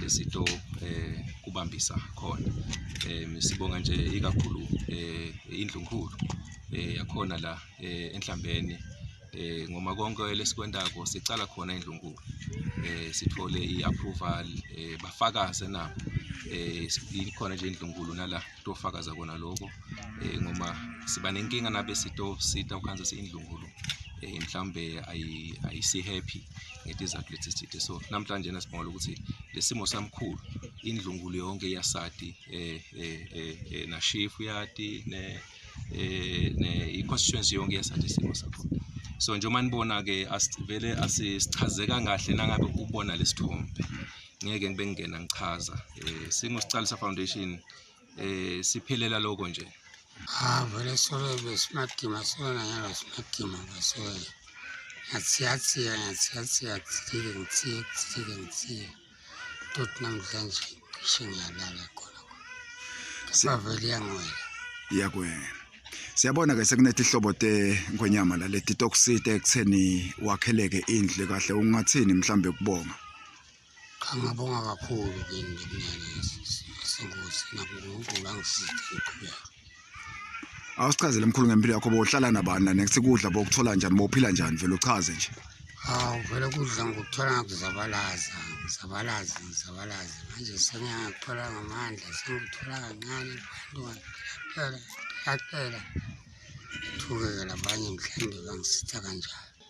lesito eh kubambisa khona eh sibonga nje ikakhulu eh indlunkulu eh yakhona la eh enhlambeni eh ngoma konke lesikwendako sicala khona indlunkulu eh sithole iapproval eh bafakaze na eh ikhona nje indlunkulu nala tofakaza kona lokho eh, ngoba siba nenkinga nabe sito sita ukhanza siyindlungulu eh, mhlawumbe ayisi happy ngetizathu lesi sithe so namhlanje na sibonga ukuthi lesimo samkhulu indlungulu yonke yasati eh, eh, eh, eh na chief yati ne eh ne i constituency yonke yasati isimo sakho so njengoba nibona ke asivele asichazeka kahle nangabe ubona lesithombe ngeke ngibe ngingena ngichaza eh singosiqalisa foundation eh siphelela lokho nje ah vele solo be smart game sona ngalo smart game ngasona ngathiyathia ngathiyathia ngithike ngithiye ngithike ngithiye tot namhlanje ngisho ngiyalala khona sivele yangwela iyakwena siyabona ke sekunethi ihlobo te ngwenyama la leti toksite ekutheni wakheleke indle kahle ungathini mhlambe kubonga Cha ngabonga kakhulu kini senkosi nakho uNkulunkulu angisize ngiqhubeke. Awusichazele mkhulu ngempilo yakho bohlala nabani la next kudla bokuthola njani bophila njani vele uchaze nje. Hawu vele kudla ngokuthola ngakuzabalaza ngizabalaza ngizabalaza manje sengiyakuthola ngamandla sengithola kancane abantu phela phela thukeke labanye mhlawumbe bangisitha kanjalo.